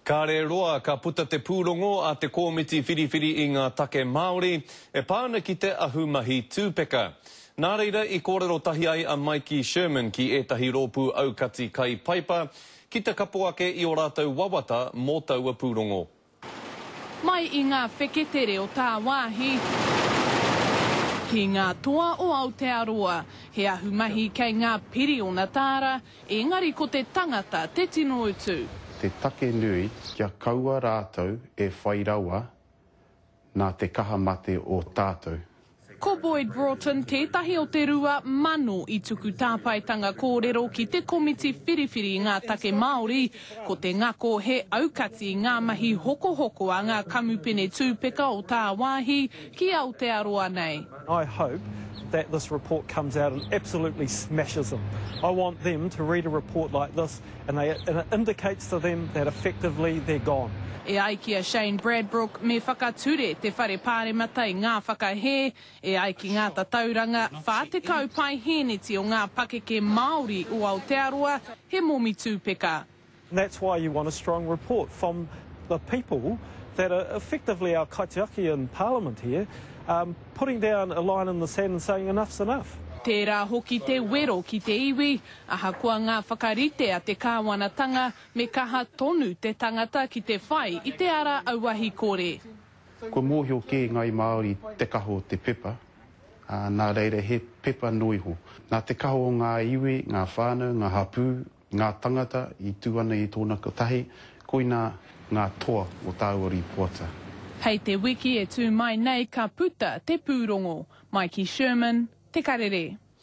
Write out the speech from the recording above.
Kāre roa ka puta te pūrongo a te Kōmiti Whiriwhiri i ngā Take Māori e pā ana ki te ahumahi tūpeka. Nā reira i kōrero tahi ai a Maiki Sherman ki ētahi rōpū aukati kai paipa ki te kapo ake i ō rātou wawata mō taua pūrongo. Mai i ngā wheketere o tāwāhi ki ngā toa o Aotearoa, he ahumahi kei ngā piriona tāra, ēngari ko te tangata te tino utu. Te take nui kia kaua rātou e whai rawa nā te kaha mate o tātou. Ko Boyd Broughton tētahi o te rua mano i tuku tāpaetanga kōrero ki te komiti whiriwhiri ngā take Māori, ko te ngako he aukati ngā mahi hokohoko a ngā kamupene tūpeka o tāwāhi ki Aotearoa nei. I hope that this report comes out and absolutely smashes them. I want them to read a report like this and they and it indicates to them that effectively they're gone. E ai ki a Shane Bradbrook, me whakature te Whare Pāremata i ngā whakahē, e ai ki ngā tatauranga, 40 paihēneti o ngā pakeke Māori o Aotearoa he momi tūpeka. And that's why you want a strong report from the people that are effectively our kaitiaki in parliament here, um, putting down a line in the sand and saying enough's enough. Tērā hoki te wero ki te iwi, ahakoa ngā whakarite a te kāwanatanga, me kaha tonu te tangata ki te whai i te ara auahi kore. Kua mōhio kē ngāi Māori te kaha o te pepa, ā, nā reira he pepa noa iho. Nā te kaha o ngā iwi, ngā whānau, ngā hapū, Ngā tangata i tū ana i tōna kotahi, koinā ngā toa o tāua rīpoata. Hei te wiki e tū mai nei ka puta te pūrongo, mai ki Sherman, Te Karere.